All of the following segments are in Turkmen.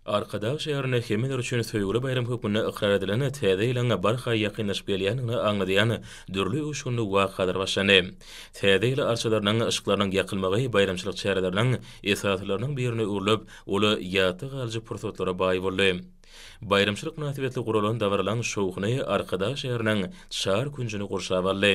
Arkadag şäherinde hemmeler üçin söýgüli baýram hökmünde ykrar edilen Täze ýylyň barha ýakynlaşyp gelýändigini aňladýan dürli öwüşginli wakalar başlandy. Täze ýyl arçalarynyň yşyklarynyň ýakylmagy baýramçylyk çäreleriniň esasylarynyň birine öwrülip, ol ýatda galyjy pursatlara baý boldy. Baýramçylyk mynasybetli guralan dabaralaň şowhuny Arkadag şäheriniň çar künjüni gurşap aldy.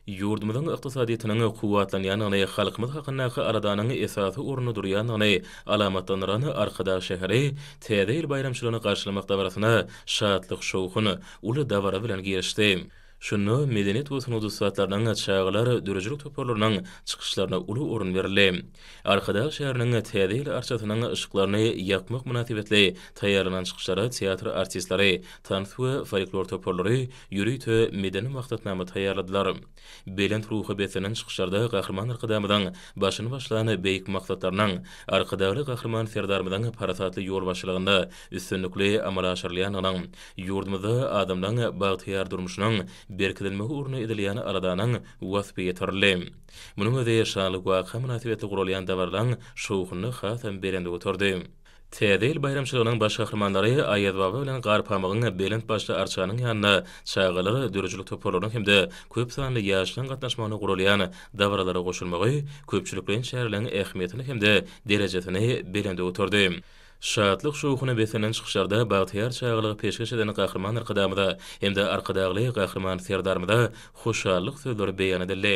Ýurdumyzyň ykdysadyýetiniň kuwwatlanýandygyny, halkymyz hakyndaky aladanyň esasy orunda durýandygyny alamatlandyran Arkadag şäheri Täze ýyl baýramçylygyny garşylamak dabarasyna şatlyk-şowhun, uly dabara bilen girişdi. Şunda medeniýet we sungat ussatlarynyň, çagalar döredijilik toparlarynyň çykyşlaryna uly orun berildi. Arkadag şäheriniň Täze ýyl arçasynyň yşyklaryny ýakmak mynasybetli taýýarlanan çykyşlara teatr artistleri, tans we folklor toparlary, ýörite medeni maksatnama taýýarladylar. Belent ruha beslenen çykyşlarda Gahryman Arkadagymyzyň başyny başlan beýik maksatlarynyň, Arkadagly Gahryman Serdarymyzyň parasatly ýolbaşçylygynda üstünlikli amala aşyrylýandygynyň, ýurdumyzda adamlaryň bagtyýar durmuşynyň berkidilmegi ugrunda edilýän aladanyň waspy ýetirildi. Munuň özi şanly waka mynasybetli guralýan dabaralaryň şowhunyny hasam belende göterdi. Täze ýyl baýramçylygynyň baş gahrymanlary Aýazbaba bilen Garpamygyň belent başly arçanyň ýanynda çagalar döredijilik toparlarynyň hem-de köp sanly ýaşlaryň gatnaşmagynda guralýan dabaralara goşulmagy köpçülikleýin çäreleriň ähmiýetini hem-de derejesini belende göterdi. Şatlyk-şowhuna beslenen çykyşlarda bagtyýar çagalygy peşgeş eden Gahryman Arkadagymyza hem-de Arkadagly Gahryman Serdarymyza hoşallyk sözleri beýan edildi.